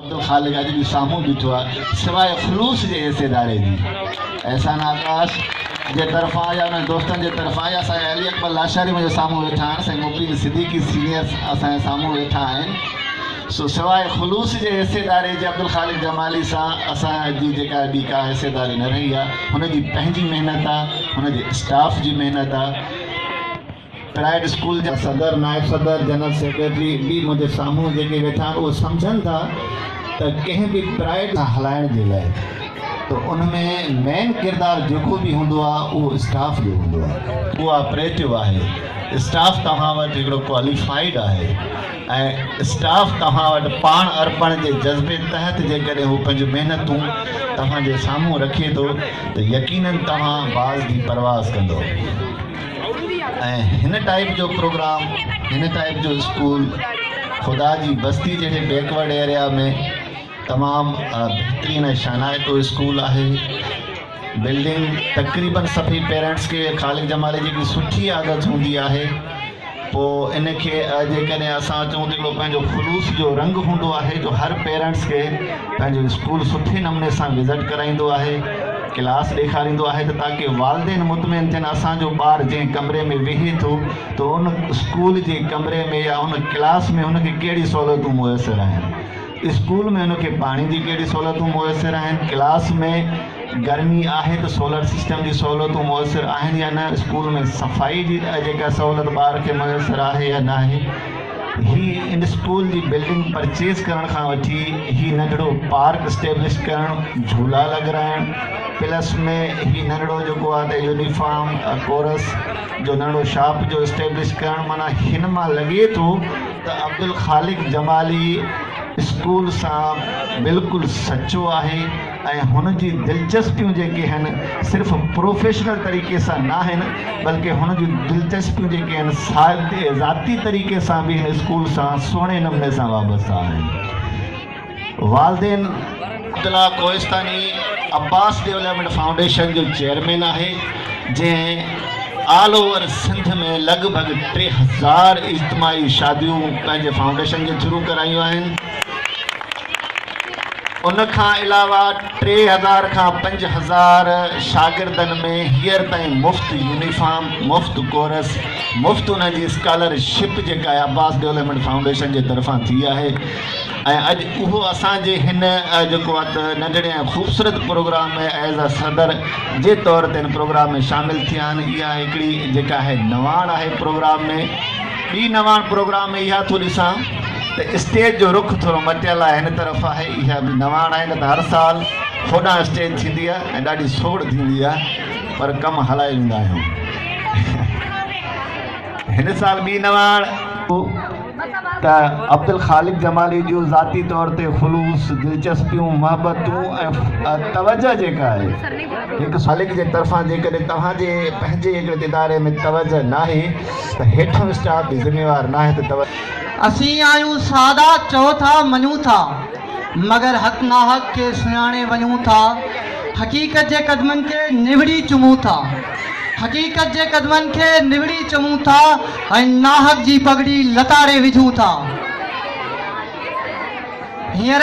عبدالخالق اڄ به سامهون بيٺو آهي سواء خلوص جي ايس اداري جي احسان آڪاش جي طرفان يا انهن دوستن جي طرفان يا سائين علي اڪبر لاشاري منهنجي سامهون ويٺا آهن سائين مبين صديقي سينيئر اسان جي سامهون ويٺا آهن سو سواء خلوص جي ايس اداري جي عبدالخالق جمالي سان اسان جي جيڪا ٻي ڪا ايس اداري نه رهي آهي هن جي پنهنجي محنت آهي هن جي اسٽاف جي محنت آهي پرائيويٽ اسڪول جا صدر، نائب صدر، جنرل سيڪريٽري به منهنجي سامهون جيڪي ويٺا آهن اهي سمجهن ٿا ته ڪنهن به پرائيويٽ کان هلائڻ جي لاء ته ان ۾ مين ڪردار جيڪو به هوندو آهي اهو اسٽاف جو هوندو آهي. اهو آپريٽو آهي، اسٽاف توهان وٽ هڪڙو ڪواليفائيڊ آهي ۽ اسٽاف توهان وٽ پاڻ ارپڻ جي جذبي تحت جيڪڏهن هو پنهنجون محنتون توهان جي سامهون رکي ٿو ته يقينن توهان باز جي پرواز ڪندو. ۽ هن ٽائيپ جو پروگرام هن ٽائيپ جو اسڪول خدا جي بستي جهڙي بيڪورڊ ايريا ۾ تمام بهترين ۽ شانائتو اسڪول آهي بلڊنگ تقريبن سڀئي پيرنٽس کي خالق جمالي جي سٺي عادت هوندي آهي پوء ان کي جيڪڏهن اسان چئون ته هڪڙو پنهنجو خلوص جو رنگ هوندو آهي جو هر پيرنٽس کي پنهنجو اسڪول سٺي نموني سان وزٽ ڪرائيندو آهي، ڪلاس ڏيکاريندو آهي ته تاڪه والدين مطمئن ٿين اسان جو ٻار جنهن ڪمري ۾ ويهي ٿو ته ان اسڪول جي ڪمري ۾ يا ان ڪلاس ۾ هن کي ڪهڙي سهولتون ميسر آهن. اسڪول ۾ ان کي پاڻي جي ڪهڙي سهولتون ميسر آهن، ڪلاس ۾ گرمي آهي ته سولر سسٽم جي سهولتون ميسر آهن يا نه، اسڪول ۾ صفائي جي جيڪا سهولت ٻار کي ميسر آهي يا ناهي. هي ان اسڪول جي بلڊنگ پرچيز ڪرڻ کان وٺي هي ننڍڙو پارڪ اسٽيبلش ڪرڻ، جهولا لڳرائڻ، پلس ۾ هي ننڍڙو جيڪو آهي ته يونيفارم ڪورس جو ننڍڙو شاپ جو اسٽيبلش ڪرڻ معنيٰ هن مان لڳي ٿو ته عبدالخالق جمالي اسڪول سان بلڪل سچو آهي ۽ هن جون دلچسپيون جيڪي هن صرف پروفيشنل طريقي سان ناهن بلڪه هن جون دلچسپيون جيڪي هن ذاتي طريقي سان به هن اسڪول سان سهڻي نموني سان وابسته آهن. والدين، عبدالله ڪوهستاني عباس ڊيولپمينٽ فائونڊيشن جو چيئرمين آهي، جنهن آل اوور سنڌ ۾ لڳ ڀڳ ٽي هزار اجتماعي شاديون پنهنجي فائونڊيشن جي ٿرو ڪرايون آهن. ان کان علاوه ٽي هزار کان پنج هزار شاگردن ۾ هينئر تائين مفت يونيفارم، مفت ڪورس، مفت انهن جي اسڪالر شپ جيڪا عباس ڊيولپمينٽ فائونڊيشن جي طرفان ٿي آهي. ۽ اڄ اهو اسان جي هن جيڪو آهي ته ننڍڙي ۽ خوبصورت پروگرام ۾ ايز اي صدر جي طور تي هن پروگرام ۾ شامل ٿيا آهن اها هڪڙي جيڪا آهي نواڻ آهي پروگرام ۾ ٻي نواڻ پروگرام ۾ اها ٿو ڏسان ته اسٽيج جو رخ ٿورو مٽيل آهي هن طرف آهي اها به نواڻ آهي نه ته هر سال هوڏانهن اسٽيج ٿيندي آهي ۽ ڏاڍي سوڙ ٿيندي آهي پر ڪم هلائي ويندا آهيون هن سال ٻي نواڻ ته عبدالخالق جمالي جون ذاتي طور تي خلوص، دلچسپيون، محبتون ۽ توجهه جيڪا آهي هڪ سالڪ جي طرفان جيڪڏهن توهان جي پنهنجي هڪڙي اداري ۾ توجهه ناهي ته هيٺيون اسٽاف به ذميوار ناهي ته توجهه اسين آهيون سادا چئو ٿا مڃون ٿا مگر حق ناحق کي سڃاڻي وڃون ٿا حقيقت جي قدمن کي نوڙي چمون ٿا حقيقت جي قدمن کي نوڙي چمون ٿا. ۽ ناحق جي پڳڙي لتاڙي وجهون ٿا. هينئر